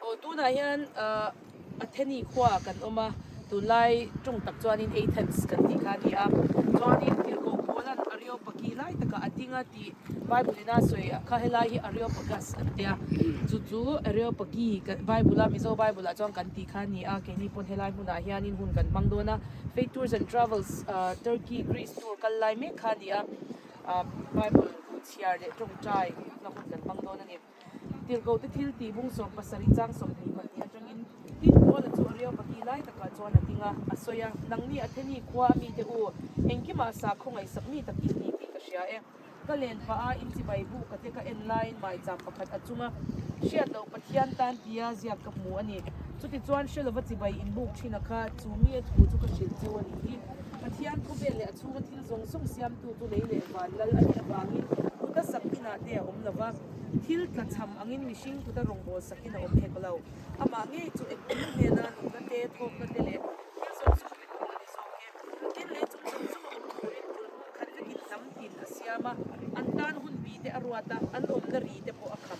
Aw tunah hian a theni khua kan awm a, tun lai ṭung tak chuanin Athens kan tih kha a ni a. Chuanin Philko Paula an Areopagus lai takah a ding a tih Bible in a sawi a, kha helai hi Areopagus an ti a. Chu chu Areopagus kan Bible a Mizo Bible ah chuan kan tih kha a ni a, keini pawn helai hmunah hianin hun kan hmang dawn a. Faith Tours and Travels Turkey, Greece tour kal lai mek kha a ni a. Bible duh chhiar leh tawngtai na hun kan hmang dawn a ni. Tirhkohte thil ti bung sawm pasarih chang sawm hnih pahnih atangin tin kuala chu a riau pahnih lai takah chuan a ding a, a sawi a, Nangni a themi khua a mite u, engkimah sa khawngaih sak mi tak in ni tih ka hria e. Ka len pah a, inchibai buh ka te ka en laiin mai cham pakhat a chunga hriat loh Pathian tan tia ziak ka hmu a ni. Chutichuan hre lova chibai in buk thin a kha, chu mi a thu chu ka hrilh cheu a ni. Pathian khawvel leh a chhunga thil zawng zawng siamtu tu lei leh van lal a nih avangin kuta sak inah te a awm lo va, thil tla chham angin mihring kuta rawngbâwl sak in a awm hek lo. Amah ngei chu engkim hnena nunna te, thawkna te leh thil zawng zawng min hmuh a ni zawk em? Tin lei chung zawng zawng a awm turin phulhmuh khat ringin hnam tin a siam a, an tân hun bite a ruat a, an awmna ri te pawh a kham.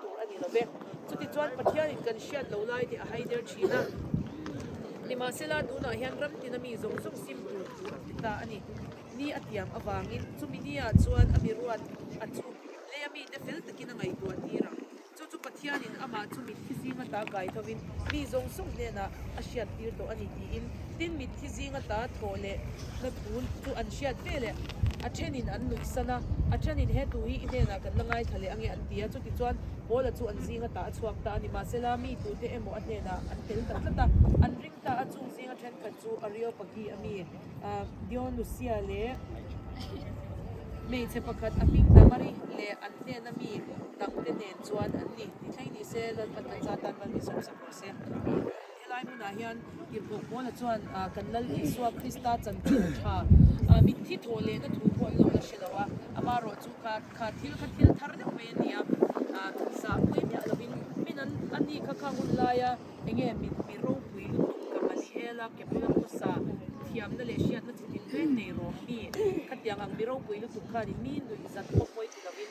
tur a ni lo ve. Chutichuan, Pathianin kan hriat loh lai te a haider thin a, nimahsela, tunah hian ramtina mi zawng zawng sim tur tur a ti ta a ni. Ni a tiam avangin, chumi ni ah chuan a miruat, a chhuk leh a mite fel takin a ngaihtuah tir ang. Chu chu Pathianin amah chu mitthli zinga ta kai thovin, mi zawng sawng hnenah a hriat tir tawh a ni tiin, tin mitthi zinga ta thawh leh hnathun chu an hriat ve leh a thenin an nuihsan a, a tanin he tu hi i hnenah kan la ngaithla leh ange an ti a, chutichuan Paula chu an zinga ta a chhuak ta a ni, mahsela mi tute emaw a hnenah an tel ta tlat a, an ring ta a, chung zinga thenkhat chu Areopagi a mi Dionusia leh hmeichhe pakhat a hming Damari leh an hnena mi dangte nen. Chuan an ni. Ti thleng ni se, Lal Patna Cha tan Lal Bishop sak rawh se. Helai hmunah hian Kirhbuak Paula chuan kan Lal Isua Krista chanchin tha ah mitthi thawh lehna thu pawh an lo la hre lo a, amah rawh chu ka kha thil kha thil thar deuh mai a ni a, zah puai miah lo in min an ani kha kha hun lai a, enge min mi ropui lutuk ka mani el a, ke Paula Khuasa thiamna leh hriatna thuthleng nei rawh mi kha tiang ang, mi ropui lutuk khan in mi nuih zat khawpui ti lo in,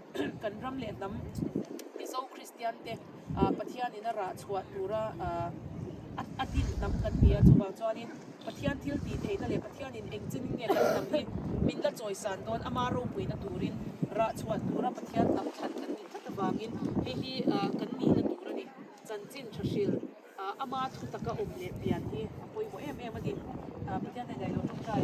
Kan ram leh hnam Mizo Kristian te Pathian in a rah chhuah tur a a din hnam kan ni a, chuvang chuanin Pathian thil ti theihna leh Pathian in engchin in nge kan hnam hi min la chawisan dawn ama ropuina turin rah chhuah tur a Pathian tam than kan ni tlat avangin hei hi kan nihna tur a ni. Chanchin tha hril ama thutak a awm leh pian hi a pawimawh em em a ni. Pathian hnaih daih loh tawngtai.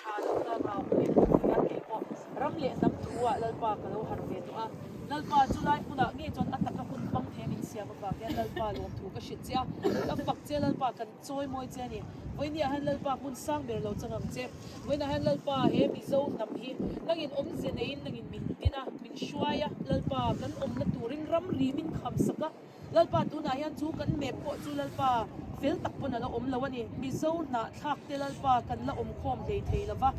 Tha lo ta ngau a ni a nih a tih pawh ram leh hnam thu ah Lalpa ka lo harh ve tawh a. Lalpa chu lai hmun ah nge chuan a taka hun hmang thei a min siam avang hian Lalpa lawm thu ka hrilh che a. Ka fak che Lalpa kan chawi mawi che a ni. Vawiin ah hian Lalpa hmun sang ber lo changang che. Vawiin ah hian Lalpa he Mizo hnam hi nang in awm ze nei in nang in min tin a, min hruai a. Lalpa kan awmna turin ramri min kham sak a. Lalpa tunah hian chu kan map pawh chu Lalpa fel tak pawn ala awm lo a ni. Mizo hnahthlak te Lalpa kan la awm khawm hlei thei lo va.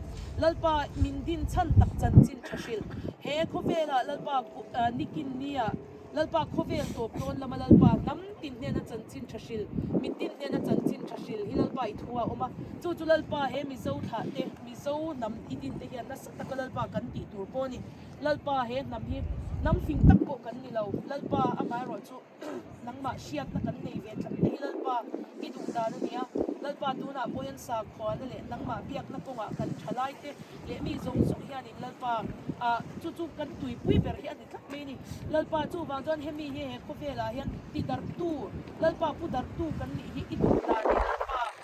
Lalpa min din chhan tak chanchin tha hrilh. He khawvelah Lalpa nikin nia Lalpa khawvel tawp tawn lama Lalpa hnam tin hnena chanchin tha hrilh, min din hnena chanchin tha hrilh hi Lalpa i thu a awm a. Chu chu Lalpa he Mizo thlah te, Mizo hnam i din te hian nasa taka Lalpa kan tih tur pawh a ni. Lalpa, he hnam hi hnam fing tak pawh kan ni lo. Lalpa, anga erawh chu nangmah hriatna kan nei ve tlat mai. Lalpa, i duhdan a nia. Lalpa, tunah pawhin sa khuana leh nangmah biakna kawngah kan tha lai te leh mi zawng zawng hianin Lalpa ah chu chu kan tuipui ber hi a ni tlat mai a ni. Lalpa, chuvang chuan hemi hi he khawvelah hian ti darhtu, Lalpa pu darhtu kan nih hi i duhdan a ni. Lalpa.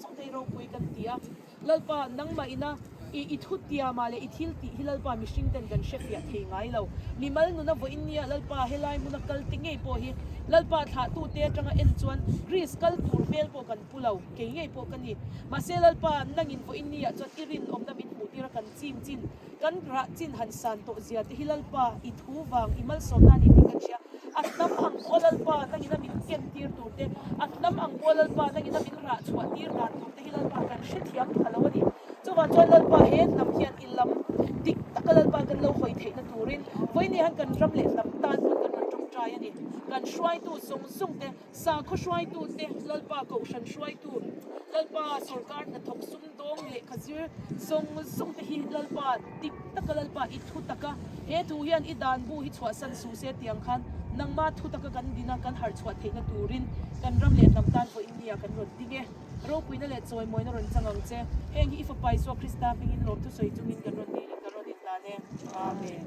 Sawmtei ropui kan ti a, Lalpa nangmah ina i i thu tia mah le i thil tih hi Lalpa mihring ten kan hre piah thei ngai lo. Mimal nuna vawiin nia Lalpa he lai hmuna kal ti ngei pawh hi Lalpa thlah tu te atanga en chuan Greece kal tur hmel pawh kan pu lo kei ngei pawh ka ni. Mahse Lalpa nangin vawiin nia chuan i rinawmna min hmuh tir a kan ti. Chin chin, kan grah chin han san tawh zia te hi Lalpa i thu vang i malsawmna a ni tih ka hria. A hnam ang pawh Lalpa nang ina min ken tir tur te, a hnam ang pawh Lalpa nang ina min rah chhuah tir dan tur te hi Lalpa kan hre thiam tha lo a ni. Chuvang chuan Lalpa he hnam hian i lam dik taka Lalpa kan lo hawi theihna turin vawi nia han kan ram leh hnam tan pawh kan rawn ṭawngṭai a ni. Kan hruaitu zawng zawng te. Sakhaw hruaitu te, Lalpa Kohhran hruaitu, Lalpa sorkar hnathawk sum dawng lehkha zir zawng zawng te hi Lalpa dik taka, Lalpa i thu taka, he thu hian i dan bu hi chhuahsan suh se tiang khan nangma thu taka kan din a, kan harh chhuah theihna turin kan ram leh hnam tan pawh India kan rawn ding e. Ropuina leh chawimawina rawn chang ang che. Heng hi i Fapa Isua Krista hmingin lawmthu sawi chungin kan rawn dil in kan rawn indan e. Amen.